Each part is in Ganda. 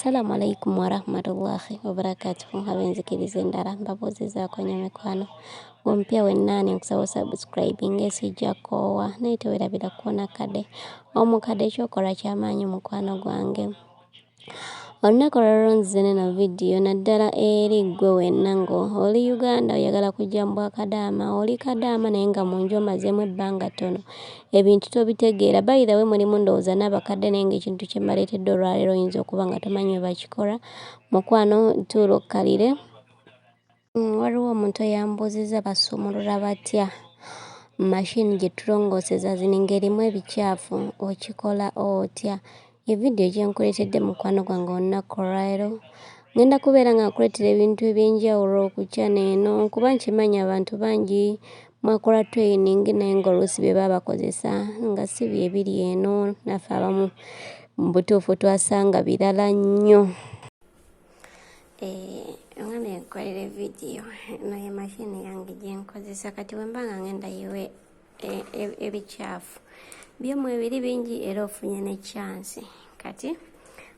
Assalamu alaikum warahmatullahi wabarakatuhu abenzikirizza endala mbabuuzizaako nnyo mikwano ompya wennaani nkusaba subscribing esijja koowa naye tewerabira kukoona kade omukade ekyokola kyamaanyi mukwano gwange Olunaku olwaliro nzize neno vidiyo naddala eri ggwe wenna nga oli Uganda oyagala kujja mu bwakadaama oli kadaama naye nga mu nju omazeemu ebbanga ttono ebintu tobitegeera bayira we mulimu ndowooza n'abakadde naye ng'ekintu kye mbaleetedde olwaleero oyinza okuba nga tomanyi bwe bakikola mukwano tuula okkalire Mm, waliwo omuntu eyambuuzizza basumulula batya mashini gye tulongooseza zino ng'erimu ebikyafu okikola otya evidiyo gye nkuleetedde mukwano gwange olunaku olwaleero ngenda kubeera nga nkuleetera ebintu eby'enjawulo ku kyana eno kuba nkimanyi abantu bangi mwakola training naye ng'oluusi bye baba bakozesa nga si bye biri eno naffe abamu mu butuufu twasanga birala nnyo Eh, omwana yenkolera evidiyo eno ye mashini yange gyenkozesa kati wemba nga ngenda yiwe e, e, ebikyafu byomu ebiri bingi era ofunye ne chansi kati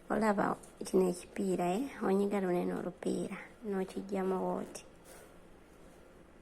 olaba kino ekipiira e eh, onyiga lunene olupiira nokijjamu wooti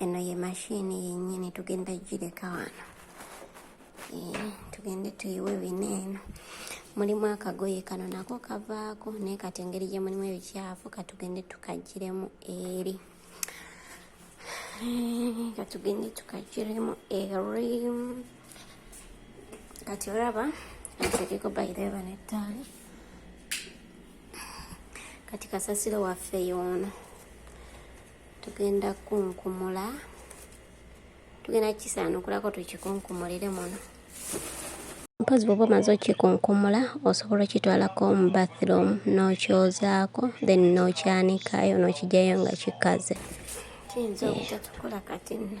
eno ye mashini yennyini tugenda gireka wano eh, tugende tuyiwe bino eno mulimu akagoye kano nako kavaako naye kati engeri gye mulimu ebikyafu katugende tukagiremu eri eh, katugende tukagiremu eri kati olaba atekeko bayireeba nettaali kati kasasiro waffe yoono tugenda kunkumula tugenda kukisaanukulako tukikunkumulire muno mpozi bwoba omaze okikunkumula osobola okitwalako mu bathroom n'okyozaako then n'okyanikayo n'okijayo nga kikaze kiyinza obutatukola kati nno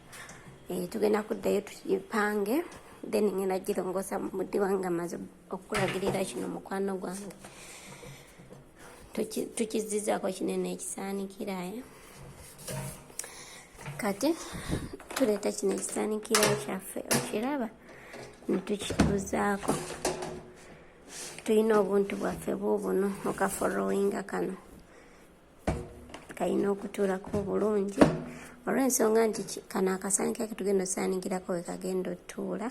eh, tugenda kuddayo tugipange then ngenda girongosa mudi wange amaze okulagirira kino mukwano gwange tukizizako kinene ekisaanikiraye eh? kati tuleeta kino ekisaanikira kyaffe okiraba netukituuzaako tulina obuntu bwaffe buubuno okaforowinga kano kalina okutuulako obulungi olw'ensonga nti kano akasaanika ke tugenda osaanikirako we kagenda otuula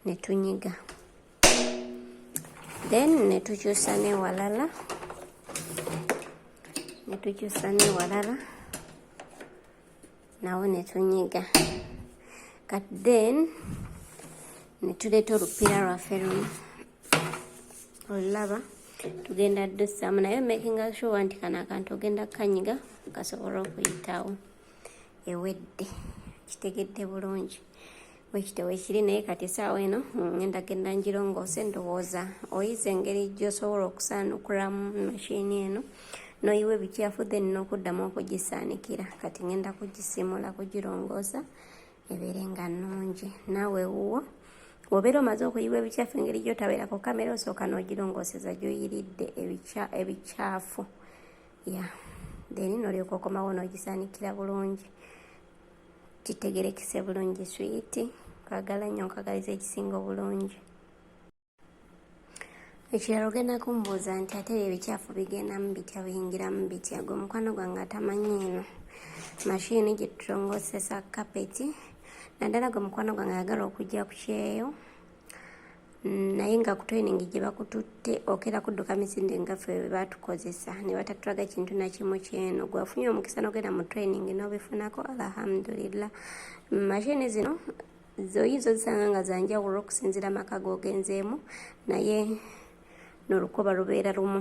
ne tunyiga then ne tukyusa newalala ne tukyusa newalala nawo ne tunyiga kat then ne tuleeta olupiira lwaffe luno olulaba tugenda dussamu naye makinga sure nti kano akantu ogenda kukanyiga kasobola okuyitawo ewedde kitegedde bulungi wekite wekiri naye kati esaawa eno ngenda mm, genda njirongoose ndowooza oyize engeri gyosobola okusaanukulamu mashini eno noyiwa ebikyafu then nokuddamu okugisaanikira kati ngenda kugisimula kugirongoosa ebeere nga nnungi naawe wuwo wobeera omaze okuyiwa ebikyafu engeri gyotabeerako kamera osooka nogirongooseza gyoyiridde ebikyafu ya then nolyoka okomawo nogisaanikira bulungi kitegerekese bulungi swiiti kwagala nnyo nkwagaliza ekisinga obulungi ekirala ogenda kumbuuza nti ate ebyo ebikyafu bigendamu bitya biyingiramu bitya gwe omukwano gwange atamanyi eno mashini gye tutongosesa kapeti naddala gwe mukwano gwange ayagala okujja ku kyeyo mm, naye nga ku training gye bakututte okera kudduka misinde nga ffe bwe batukozesa ne batatulaga kintu na kimu kyeno gwafunye omukisa n'ogenda mu training n'obifunako alhamdulillah mm, mashini zino zoyinza ozisanga nga zanjawulo okusinzira amaka googenzeemu naye n'olukoba lubeera lumu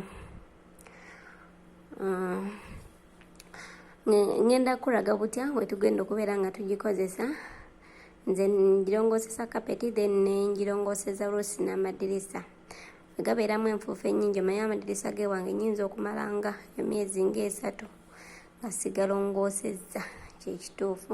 mm. ngenda kuraga butya wetugenda okubeera nga tugikozesa nze ngirongosesa kapeti then nengirongoseza oluusi n'amadirisa gabeeramu enfuufu enyingi omaye amadirisa gewange nyinza okumala nga emyezi ngaesatu nga sigalongoosezza kyekituufu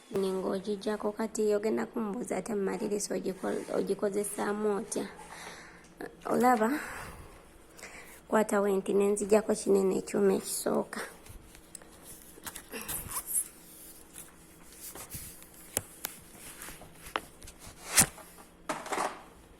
ninga ogijjako kati ogenda kumubuuza ate mumaliriza ogikozesaamu otya olaba kwata wenti nenzijako kinene ekyuma ekisooka